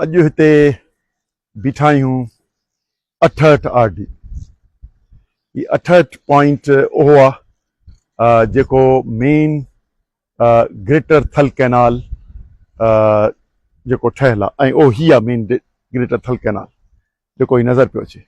اڄ هتي بيٺا آهيون اٺهٺ آر ڊي هي اٺهٺ پوائنٽ اهو آهي جيڪو مين گريٽر ٿل ڪئنال جيڪو ٺهيل آهي ۽ اهو هي آهي مين گريٽر ٿل ڪئنال جيڪو هي نظر پيو اچي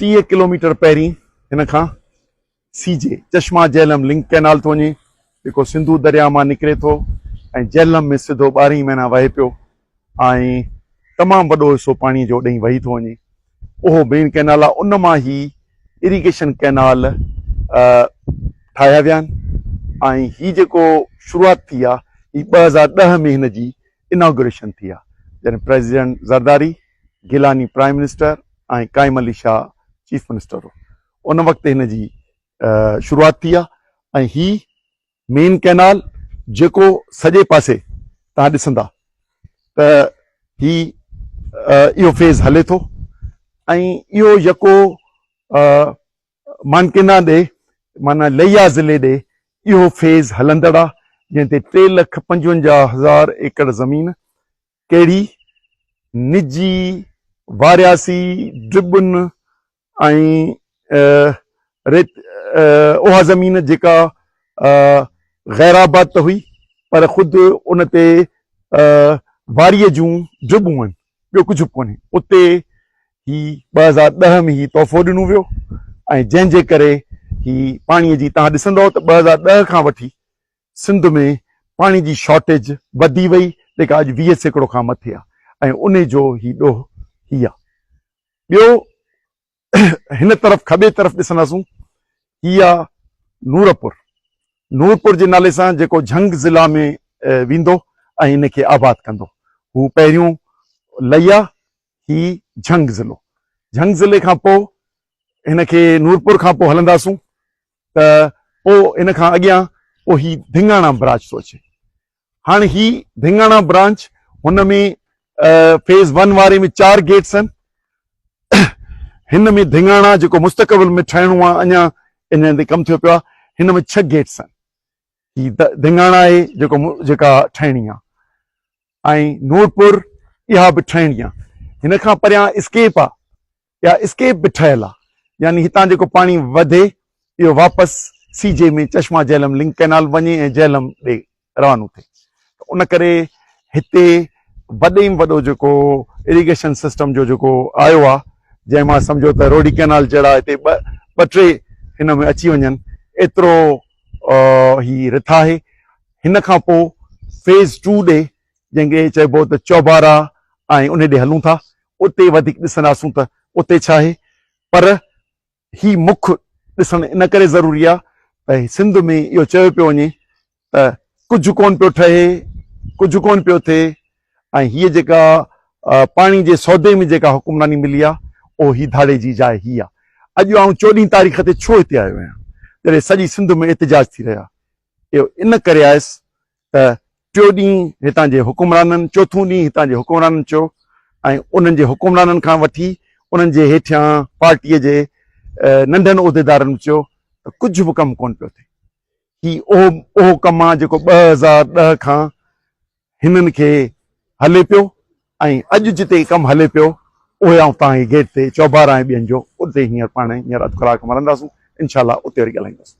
ٽيهه ڪلوميٽر پهرين هن کان C J Chashma Jhelum link canal ٿو وڃي جيڪو سنڌو درياهه مان نڪري ٿو ۽ جهلم ۾ سڌو ٻارهن ئي مهينا وهي پيو ۽ تمام وڏو حصو پاڻي جو ڏئين وهي ٿو وڃي اهو بين ڪئنال آهي ان مان هي اريگيشن ڪئنال ٺاهيا ويا آهن ۽ هي جيڪو شروعات ٿي آهي هي ٻه هزار ڏهه ۾ هن جي اناگوريشن ٿي آهي جڏهن president Zardari Gilani prime minister ۽ Qaim Ali Shah chief minister هو ان وقت هن جي شروعات ٿي آهي ۽ هي مين ڪئنال جيڪو سڄي پاسي تان ڏسندا ته هي اهو فيز هلي ٿو ۽ اهو يڪو مانڪينا ڏي مانا ليا ضلعي ڏي اهو فيز هلندڙ آهي جنهن تي ٽي لک پنجونجاهه هزار ايڪڙ زمين ڪهڙي نجي، وارياسي، ڊبن ۽ ريت اها زمين جيڪا غيرآباد ته هئي پر خود ان تي واريء جون ڊبون هئن ٻيو ڪجهه به ڪونهي اتي هي ٻه هزار ڏهه ۾ هي تحفو ڏنو ويو ۽ جنهن جي ڪري هي پاڻي جي تهان ڏسندؤ ته ٻه هزار ڏهه کان وٺي سنڌ ۾ پاڻي جي شارٽيج وڌي وئي جيڪا اڄ ويهه سيڪڙو کان مٿي آ ۽ انهي جو هي ڏوهه هي آ. ٻيو هن طرف کٻي طرف ڏسنداسون هي آ نورپور نورپور جي نالي سان جيڪو جهنگ ضلع ۾ ويندو ۽ ان کي آباد ڪندو هو پهريون لئي آ هي جهنگ ضلعو جهنگ ضلعي کان پوء هن کي نورپور کان پوء هلنداسون ته پوء ان کان اڳيان پوء هي ڌينگاڻا براچ ٿو اچي. هاڻي هي ڌينگاڻا برانچ هن ۾ فيز ون واري ۾ چار گيٽس آهن. هن ۾ ڌينگاڻا جيڪو مستقبل ۾ ٺهڻو آهي اڃا ان تي ڪم ٿيو پيو آهي. هن ۾ ڇهه گيٽس آهن. هي ڌينگاڻا آهي جيڪو جيڪا ٺهڻي آهي ۽ نورپور اها به ٺهڻي آهي. هن کان پريان اسڪيپ آهي. يا اسڪيپ به ٺهيل آهي يعني هتان جيڪو پاڻي وڌي اهو واپس C J ۾ Chashma Jhelum link canal وڃي ۽ جهلم ڏي روانو ٿئي ته ان ڪري هتي وڏي ۾ وڏو جيڪو اريگيشن سسٽم جو جيڪو آيو آهي جنهن مان سمجهو ته روڊي ڪئنال جهڙا هتي ٻه ٻه ٽي هن ۾ اچي وڃن ايترو هي رٿ آهي هن کان پوء فيز ٽو ڏي جنهن کي چئبو ته چوبارا ۽ انهي ڏي هلون ٿا اتي وڌيڪ ڏسنداسون ته اتي ڇا آهي پر هي مک ڏسڻ ان ڪري ضروري آهي ته سنڌ ۾ اهو چيو پيو وڃي ته ڪجهه ڪون پيو ٺهي ڪجهه ڪون پيو ٿئي ۽ هي جيڪا پاڻي جي سودي ۾ جيڪا حڪمراني ملي آهي اهو هي ڌاڙي جي جاء هي آهي اڄ آئون چوڏهين تاريخ تي ڇو هتي آيو آهيان جڏهن سڄي سنڌ ۾ احتجاج ٿي رهيا اهو ان ڪري آيس ته ٽيو ڏينهن هتان جي حڪمرانن چوٿون ڏينهن هتان جي حڪمرانن چيو ۽ انهن جي حڪمرانن کان وٺي انهن جي هيٺيان پارٽيء جي ننڍن عهديدارن به چيو ته ڪجهه به ڪم ڪونه پيو ٿئي هي اهو اهو ڪم آهي جيڪو ٻه هزار ڏهه کان هنن کي هلي پيو ۽ اڄ جتي ڪم هلي پيو اهي آئون تان هي گيٽ تي چوبار آهي ٻين جو اتي هينئر پاڻ هينئر اڌ ڪلاڪ مرنداسون انشاء الله اتي وري ڳالهائينداسون.